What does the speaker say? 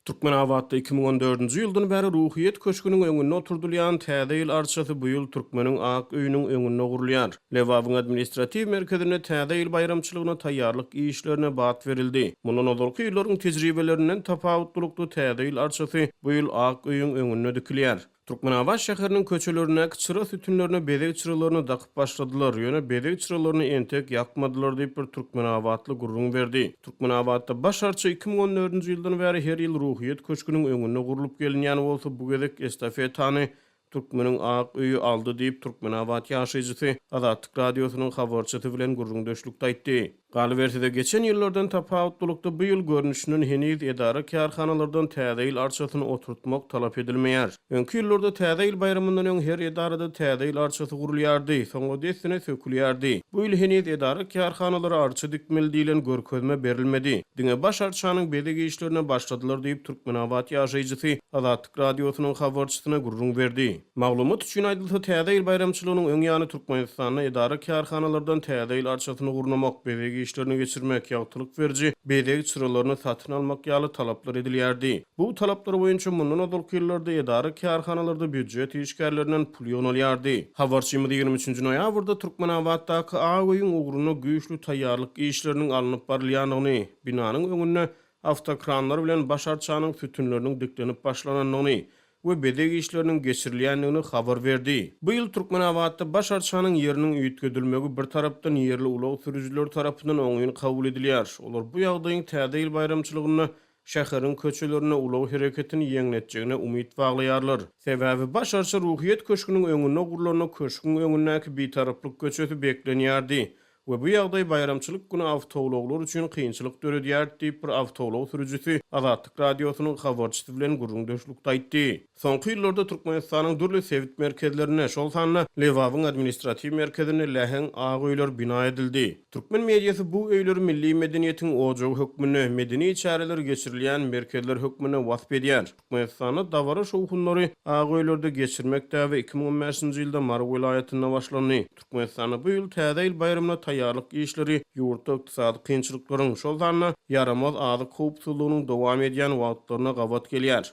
Türkmenabatda iki müň on dördünji ýyldan bäri Ruhyýet köşgüniň öňünde oturdylýan Täze ýyl arçasy bu ýyl Türkmeniň ak öýüniň öňünde gurulýar. Lebabyň administratiw merkezinde Täze ýyl baýramçylygyna taýýarlyk işlerine bat berildi. Mundan ozalky ýyllaryň tejribelerinden tapawutlylykda Täze ýyl arçasy bu ýyl ak öýüň öňünde dikilýär. Türkmenabat şäheriniň köçelerindäki çyra sütünlerine bezeg çyralaryny dakyp başladylar, ýöne bezeg çyralaryny entek ýakmadylar diýip, bir türkmenabatly gürrüň berdi. Türkmenabatda baş arça iki müň on dördünji ýyldan bäri her ýyl Ruhyýet köşgüniň öňünde gurlup gelinýän bolsa, bu gezek estafetany Türkmeniň ak öýi aldy diýip, türkmenabat ýaşaýjysy Azatlyk Radiosynyň habarçysy bilen gürrüňdeşlikde aýtdy. Galyberse-de, geçen ýyllardan tapawutlylykda bu ýyl görnüşinden heniz edara-kärhanalardan Täze ýyl arçasyny oturtmak talap edilmeýär. Öňki ýyllarda Täze ýyl baýramyndan öň her edarada Täze ýyl arçasy gurulýardy, soňra dessine sökülýärdi. Bu ýyl heniz edara-kärhanalara arça dikmeli diýlen görkezme berilmedi. Diňe baş arçanyň bezeg işlerine başladylar diýip, türkmenabat ýaşaýjysy Azatlyk Radiosynyň habarçysyna gürrüň berdi. Maglumat üçin aýdylsa, Täze ýyl baýramçylygynyň öň ýany Türkmenistanda edara-kärhanalardan Täze ýyl arçasyny gurnamak, bezeg işlerini geçirmek, ýagtylyk beriji bezeg çyralaryny satyn almak ýaly talaplar edilýärdi. Bu talaplar boýunça mundan ozalky ýyllarda edara-kärhanalarda býujet işgärlerinden pul ýygnalýardy. Habarçymyz ýigrimi üçünji noýabrda Türkmenabatdaky ak öýüň ugruna güýçli taýýarlyk işleriniň alnyp barylýanyny, binanyň öňünde awtokranlar bilen baş arçanyň sütünleriniň diklenip başlanandygyny, we bezeg işleriniň geçirilýändigini habar berdi. Bu ýyl Türkmenabatda baş arçanyň ýeriniň üýtgedilmegi bir tarapdan ýerli ulag sürüjileri tarapyndan oňyn kabul edilýär. Olar bu ýagdaýyň Täze ýyl baýramçylygynda şäheriň köçelerinde ulag hereketini ýeňletjegine umyt baglaýarlar. Sebäbi baş arça Ruhyýet köşgüniň öňünde gurlanda köşgüň öňündäki Bitaraplyk köçesi beklenýärdi. we bu ýagdaý baýramçylyk güni awtoulaglar üçin kynçylyk döredýär, diýip, bir awtoulag sürüjisi Azatlyk Radiosynyň habarçysy bilen gürrüňdeşlikde aýtdy. Soňky ýyllarda Türkmenistanyň dürli sebit merkezlerinde, şol sanda Lebabyň administratiw merkezinde läheň ak öýler bina edildi. Türkmen mediasy bu öýleri milli medeniýetiň ojagy hökmünde, medeni çäreler geçirilýän merkezler hökmünde wasp edýär. Türkmenistanda dabara şowhunlary Ak öýlerde geçirmek däbi iki müň on bäşinji ýylda Mary welaýatynda başlandy. Türkmenistanda bu ýyl Täze ýyl baýramyna taýýarlyk işleri ýurtda ykdysady kynçylyklaryň, şol sanda ýaramaz azyk howpsuzlygynyň dowam edýän wagtlaryna gabat gelýär.